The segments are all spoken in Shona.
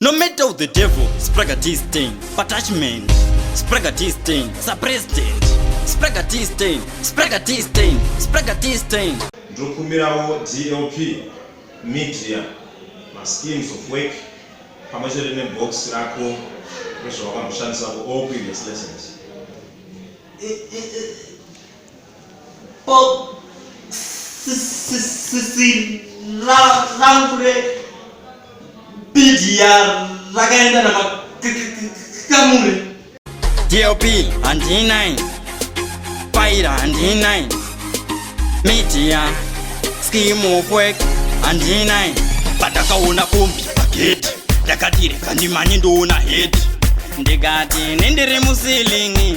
No matter of the devil, Spragatiste, attachment, Spragatiste, suppressed, Spragatiste, Spragatiste, Spragatiste. Ndokumbirawo DLP media ma schemes of work pamwe chete ne box rako rezvawakamboshandisa ku all previous lessons. bhokisi rangu rebhidhiya rakaenda namakamure dlp handinai paira handinai media scheme of work handinai patakaona kombi pageti ndakatireka ndimanye ndoona heti ndikati nendiri musilingi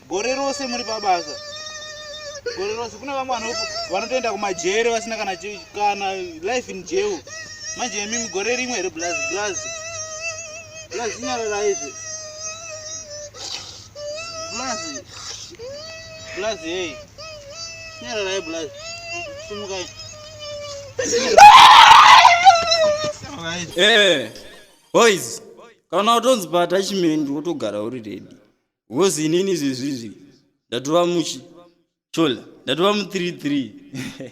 gore rose muri pabasa gore rose kune vamwe vanotoenda kumajere vasina kana kana life in jail manje yemi mugore rimwe here blaz blaz blaz inyarara izvi blaz blaz hei nyararai blaz sumukai Hey, eh, boys, kana utonzi bata chimende wotogara uri ready. Wozi inini izvezvizvi ndatova muchi chola ndatova mu 33